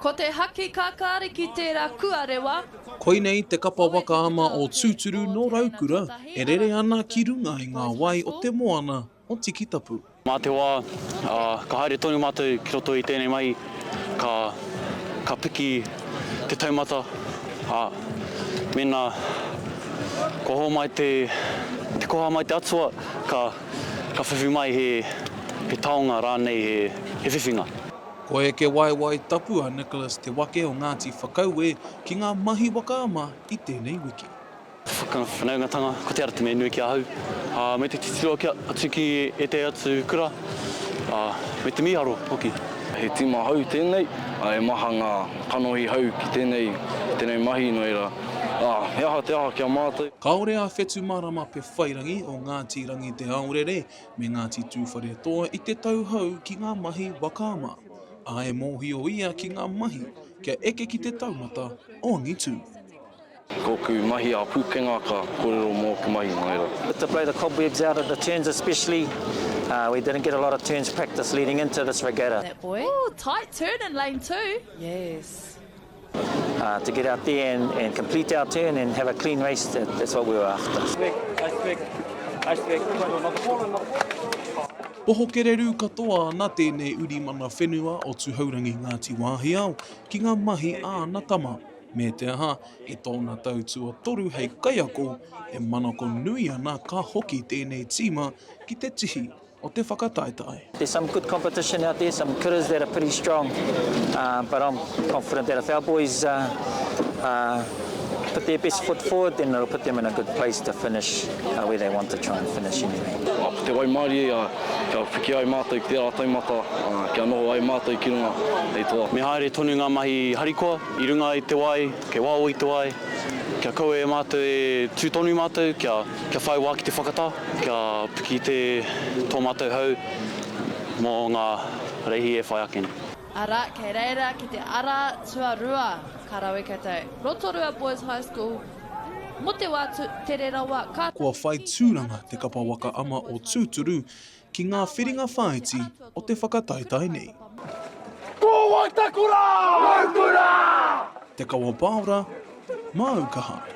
Ko te haki kākāriki tērā kua rewa. Koinei te kapa waka ama o Tūturu nō Raukura e rere ana ki runga i ngā wai o te moana o Tikitapu. Mā te wā, ka haere tonu mātou ki roto i tēnei mahi, ka piki te taumata, ā, mēnā kua hōmai te koha mai te Atua, ka whiwhi mai he taonga rānei, he whiwhinga. Ko Heke Waewae Tapu a Nicholas te wake o Ngāti Whakaue ki ngā mahi waka ama i tēnei wiki. Whakawhanaungatanga, ko te ara te mea nui ki ahau, ā, me te titiro kia atu ki ētahi atu kura, ā, me te mīharo hoki. He tīma hou tēnei, ā, he maha ngā kanohi hou ki tēnei, tēnei mahi, nō reira, ā, he aha te aha ki a mātou? Kāore a Whetu Marama Pewhairangi o Ngāti Rangiteaorere me Ngāti Tūwharetoa i te tau hou ki ngā mahi waka ama, ā, e mōhio ia ki ngā mahi kia eke ki te taumata o angitū. Koku mahi a pukenga ka korero moku mahi mai ra. But to blow the cobwebs out of the turns especially uh we didn't get a lot of turns practice leading into this regatta. That boy. Ooh, tight turn in lane two. Yes. To get out there and and complete our turn and have a clean race that's what we were after. Poho kererū katoa ana tēnei uri mana whenua o Tuhourangi Ngāti Wāhiao ki ngā mahi a ana tama, me te aha, i tōna tau tuatoru hei kaiako, e manako nui ana ka hoki tēnei tīma ki te tihi o te whakataetae. There's some good competition out there, some kuras that are pretty strong, but I'm confident that if our boys put their best foot forward then it'll put them in a good place to finish where they want to try and finish anyway. Ko te waimarie ia kia whiwhi ai mātou ki tērā taumata, kia noho ai mātou ki runga hei toa. Me haere tonu ngā mahi harikoa i runga i te wai, kei waho i te wai, kia kaua e mātou e tū tonu mātou kia. Kia whai wā ki te whakatā, kia piki te tō mātou hau mō ngā reihi e whai ake nei. Arā, kei reira ki te ara tuarua, ka rawe koutou. Rotorua Boys High School, mō te wā tere rawa ka. Kua whai tūranga te kapa waka ama o Tūturu ki ngā whiringa whāiti o te whakataetae nei. Ko wai ta kura? Mau kura! Te kawa paora, māu ka haere.